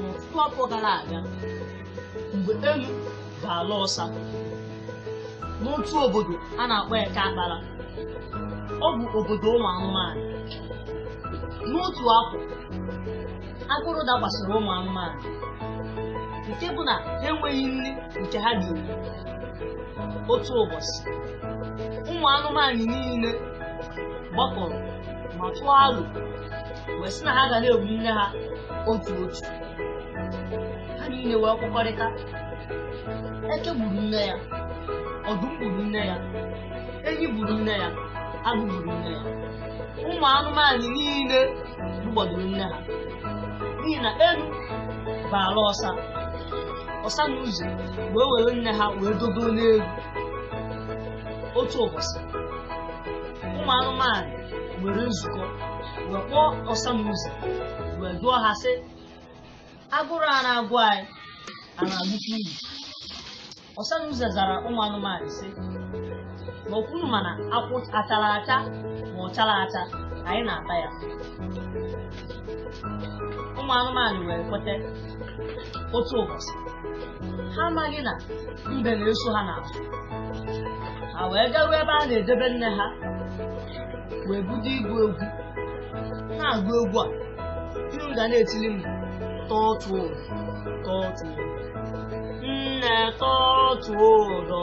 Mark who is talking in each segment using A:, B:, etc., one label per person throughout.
A: N'ọtụtụ afọ gara aga, mgbe elu bụ ala ọsa n'otu obodo a na-akpọ Eke Akpara, ọ bụ obodo ụmụ anụmanụ. N'otu afọ, agụrụ dakwasịrị ụmụ anụmanụ nke bụ na ha enweghị nri nke ha ga-eri. Otu ụbọchị, ụmụ anụmanụ niile gbakọrọ ma tụọ alo wee sị na ha ga na-egbu nne ha otu otu ha niile wee kwekọrịta eke gburu nne ya ọdụm gburu nne ya enyi gburu nne ya agụ gburu nne ya ụmụ anụmanụ niile gbugbadoro nne ha n'ihi na elu bụ ala ọsa ọsa na uze wee were nne ha wee dogo n'elu otu ụbọchị ụmụ anụmanụ nwere nzukọ wee kpọọ ọsa na uze wee jụọ ha sị agụrụ a na-agụ anyị a na-agụkwu unu ọsa na uze zara ụmụ anụmanụ sị ma okwunu mana akwụ achara acha ma ọ chara acha anyị na-ata ya ụmụ anụmanụ wee kweta otu ụbọchị ha amaghị na mbe na-eso ha n'azụ ha wee garuo ebe a na-edebe nne ha wee bido ịgụ egwu na-agụ egwu a unu ga na-etili m tọtuo ụdọ tọtuo ụdọ nne tọtuo ụdọ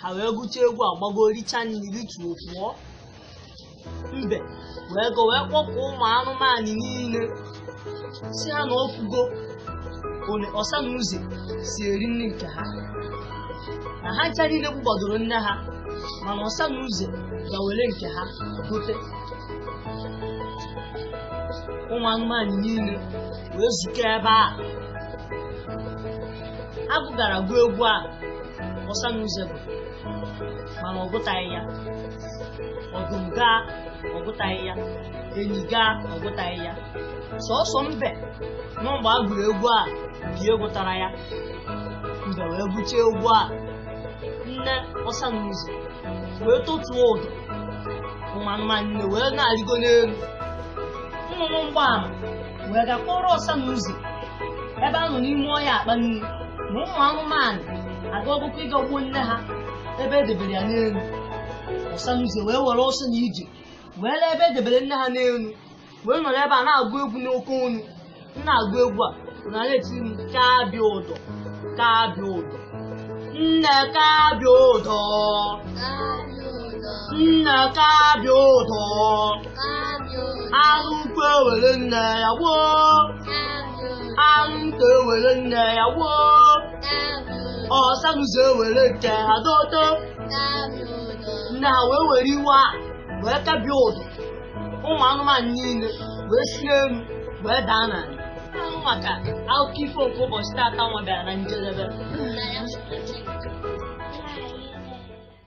A: ha wee gụcha egwu a gbago richa nri rịtuo pụọ mbe wee ga wee kpọkọọ ụmụ anụmanụ niile sị ha na ọ fụgo ole ọsa na uze si eri nri nke ha na ha ncha niile gbugbadoro nne ha mana ọsa na uze ga were nke ha gote ụmụ anụmanụ niile wee zukọ ebe a agụ gara gụọ egwu a ọsa na uze gụrụ mana ọ gụtaghị ya ọdụm gaa ọ gụtaghị ya enyi gaa ọ gụtaghị ya sọsọ mbe nọ mgbe a gụrụ egwu a bụ ya gụtara ya mbe wee gụchaa egwu a nne ọsa na uze wee tọtuo ụdọ ụmụ anụmanụ niile wee na-arịgo n'elu nnụnụ mgbaama wee ga kọọrọ ọsa na uze ebe ha nọ n'ime ọhịa akpa nri na ụmụ anụmanụ agagokwu ịga gbuo nne ha ebe e debere ya n'elu ọsa na uze wee were ọsọ na ije wee lue ebe e debere nne ha n'elu wee nọrọ ebe a na-agụ egwu n'oke onu m na-agụ egwu a unu na-etiri m kabie ụdọ kabie ụdọ nne kabie ụdọ nne kabie ụdọ anụ ukwu ewere nne ya gbuo anụ nta ewere nne ya gbuo ọsa na uze ewere nke ha dodo nne ha wee were iwe a wee kabie ụdọ ụmụ anụmanụ niile wee si n'elu wee daa n'ala ahụ maka akụkọ ifo nke ụbọchị taata nwa bịara na njedebe